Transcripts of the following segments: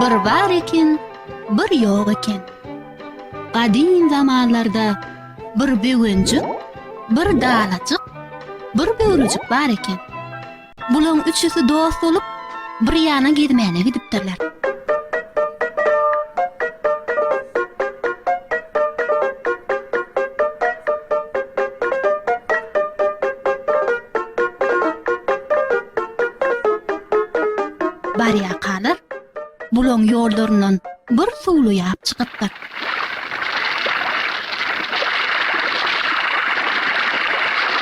Bir bar eken, bir ýok eken. Gadym zamanlarda bir böwenjik, bir dalajyk, bir böwrejik bar eken. Bulaň üçüsi dost bolup, bir ýana gezmäne gidipdirler. Barýarkalar, bulaň ýollaryndan bir suwly ýap çykypdyr.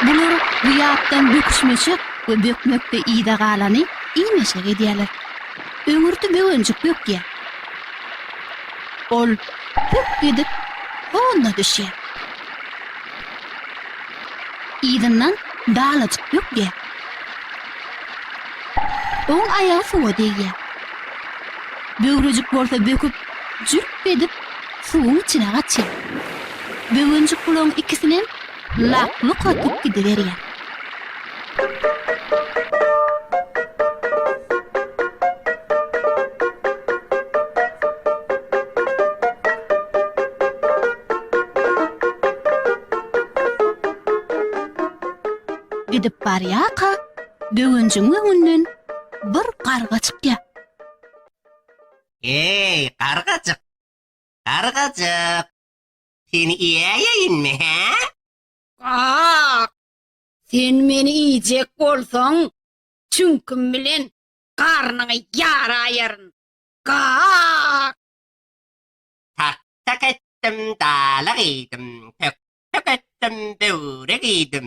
Bular bu ýapdan böküşmeşek we bökmekde yza galany iý-meşek edýärler. Öňürti böwenjik bökýär. Ol hüp edip honna düşýär. Yzyndan dalajyk bökýär. Oň aýagy suwa degýär. Böwrejik bolsa böküp Jürk edip suwuň içine gaçýar. Böwenjik bulaň ikisinem lak-luk atyp gidiberýär. Gidip barýarka, böwenjigiň öňünden bir garga çykýar. Eý, gargajyk! Gargajyk! Seni iýäýeýinmi, hä? Gak! Sen meni iýjek bolsaň, çüňkim bilen garnyňy ýaraýaryn! Gak! Tak-tak etdim, dalag iýdim, tök-tök etdim, böwrek iýdim.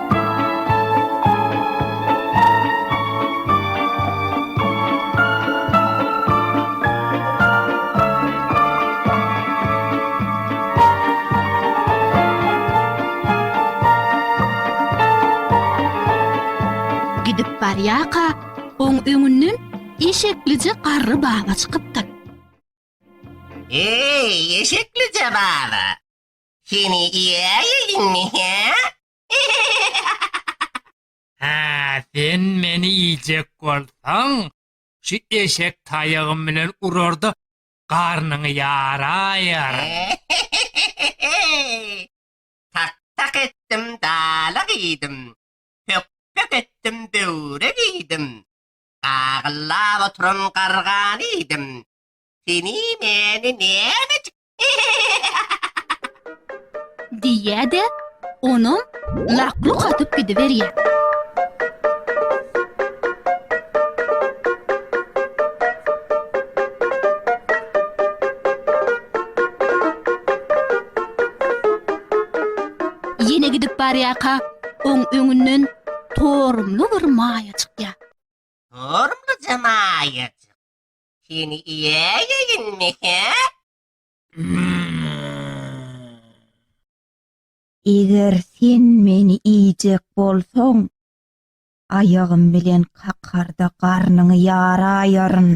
Gidip barýarka, oň öňünden eşeklije garry baba çykypdyr. Eý, eşeklije baba! Seni iýäýeýinmi, hä? Hä, sen meni iýjek bolsaň, şu eşek taýagym bilen urar-da, garnyňy ýaraýaryn. Tak-tak etdim, dala giýdim. Pök-pök etdim, böwre giýdim. Gagyllap oturan gargany iýdim. Seni-meni nämejik Diýýä-de, onam lak-luk atyp gidiberýär. Ýene gidip barýarka, oň öňünden torumly bir maýa çykýar. Torumlyja maýajyk. Seni iýäýeýinmi, hä? Eger sen meni iýjek bolsaň, aýagym bilen kakarda garnyňy ýaraýaryn.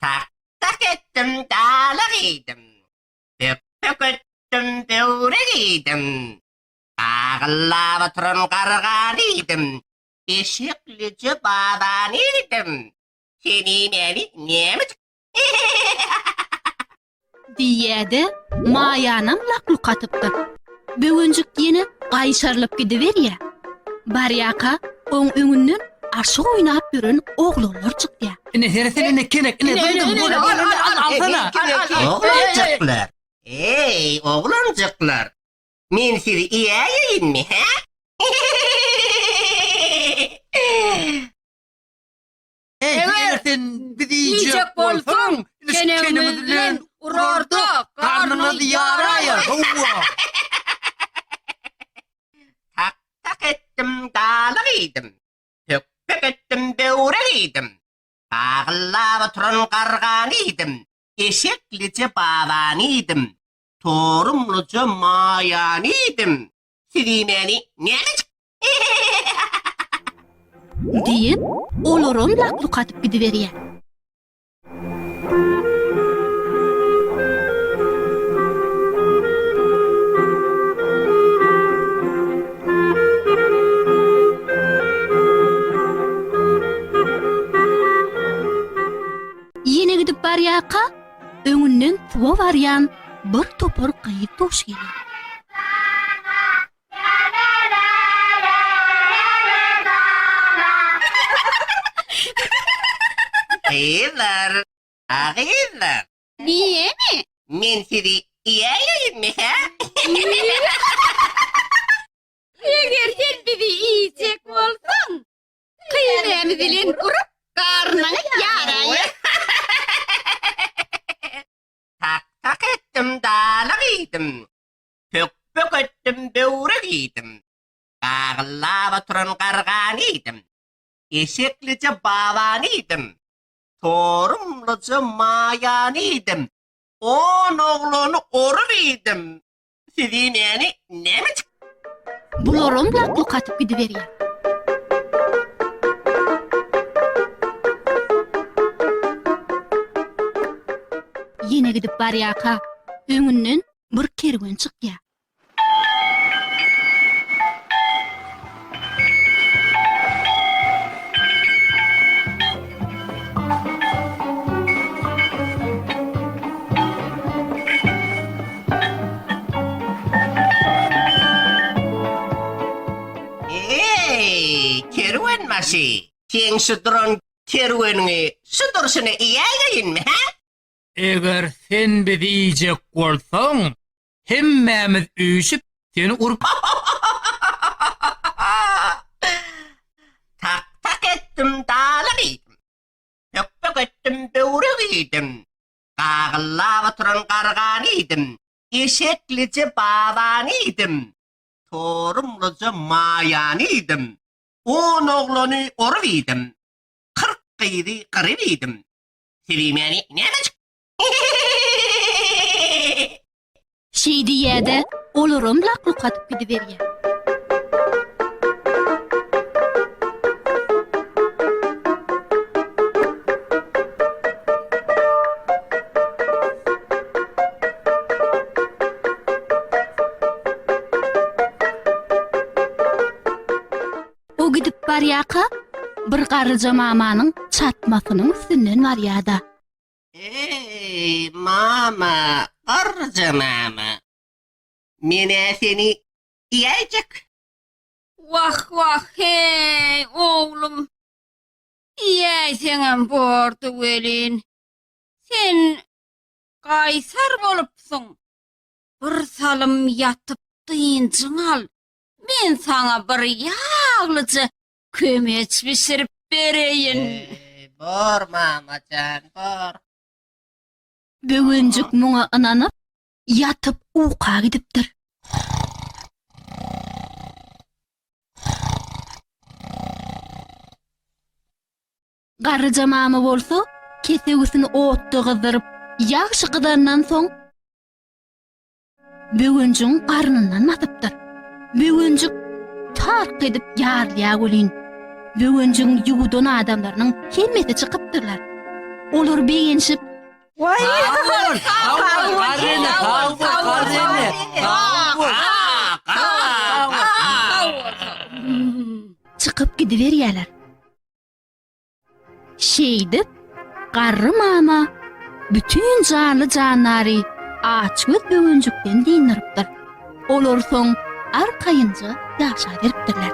Tak-tak etdim, dalak iýdim. Pöp-pök etdim, böwrek iýdim. Agyllap oturan garganydim. Eşeklije babanydim. Seniň äli nämejik. Diýýä-de, Maýanam lak-luk atypdyr. Böwenjik ýene gaýşarylyp gidiberýä. Barýaka, oň öňünden aşyk oýnap ýören oglanlar çykýa. Ine, heresi indi kelek. Ine, duýduň, gördüň, indi al, alsana. Oglanjyklar, eý, oglanjyklar! Men sizi iýäýeýinmi, hä? Eger sen bizi iýjek bolsaň, ilişkenimiz bilen urarda garnyňyz ýaraýa, howwa! Tak-tak etdim, galyk iýdim. Pökpek etdim, böwrek iýdim. Gagyllap oturan gargany iýdim. Eşeklije babany iýdim. Torumlyja maýany iýdim. Sizi meni näleçik? Diýip, olaram lak-luk atyp gidiberýär. Ýene gidip barýarka, Öňünden suwa barýan bir topar gyz duş gelýär. Gyzlar, a gyzlar. Diýeni? Men sizi iýäýeýinmi, hä? Eger sen bizi iýjek bolsaň, Gyýmymy bilen urup, garnyňy ýaraýyn. Tak-tak etdim, dala giýdim. Pök-pök etdim, böwre giýdim. Gagyllap oturan gargany iýdim. Eşeklije babany iýdim. Torumlyja maýany iýdim. On oglany orup iýdim. Siz iýmäni näme çyk? Bularam lak-luk atyp gidiberýär. Ýene gidip barýarka, öňünden bir kerwen çykýar. Eý, kerwenbaşy, seň şu duran kerweniňi şu durşuna iýäýeýinmi, hä? Eger sen bizi iýjek bolsaň, Hemmämiz üýşüp seni urup Tak tak etdim daly gyýdym. Pök pök etdim böwre güýdüm. Gagyllap oturan gargany iýdim. Eşeklije babany iýdim. Torumlyja maýany iýdim. On oglany orup iýdim. Kyrk gyzy gyryp iýdim. Sebi meni nämejik Şeý diýýä-de, olaram lak-luk atyp gidiberýär. O gidip barýarka, bir garryja mamanyň çatmasynyň üstünden barýar-da. Eý, mama, garryja mama. Men-ä seni iýäýjek. Wah, wah, heý, oglum. Iýäýseňem bordy welin, sen gaýsar bolupsyň. Bir salym ýatyp dynjyň al, men saňa bir ýaglyja Kömeç bişirip bereýin. Eý, bor mama jan, bor. Böwenjik muňa ynanyp, ýatyp uka gidipdir. Garryja mama bolsa kesewisini otda gyzdyryp, ýagşy gyzandan soň, Böwenjigiň garnyndan basypdyr. Böwenjik tark edip ýarylýar welin, Böwenjigiň ýuwudan adamlarynyň hemmesi çykypdyrlar. Olar begenşip. Çykyp gidiberýärler. Şeýdip, garry mama bütin janly-jandary açgöz böwenjikden dyndyrypdyr. Olar soň arkaýynja ýaşaberipdirler.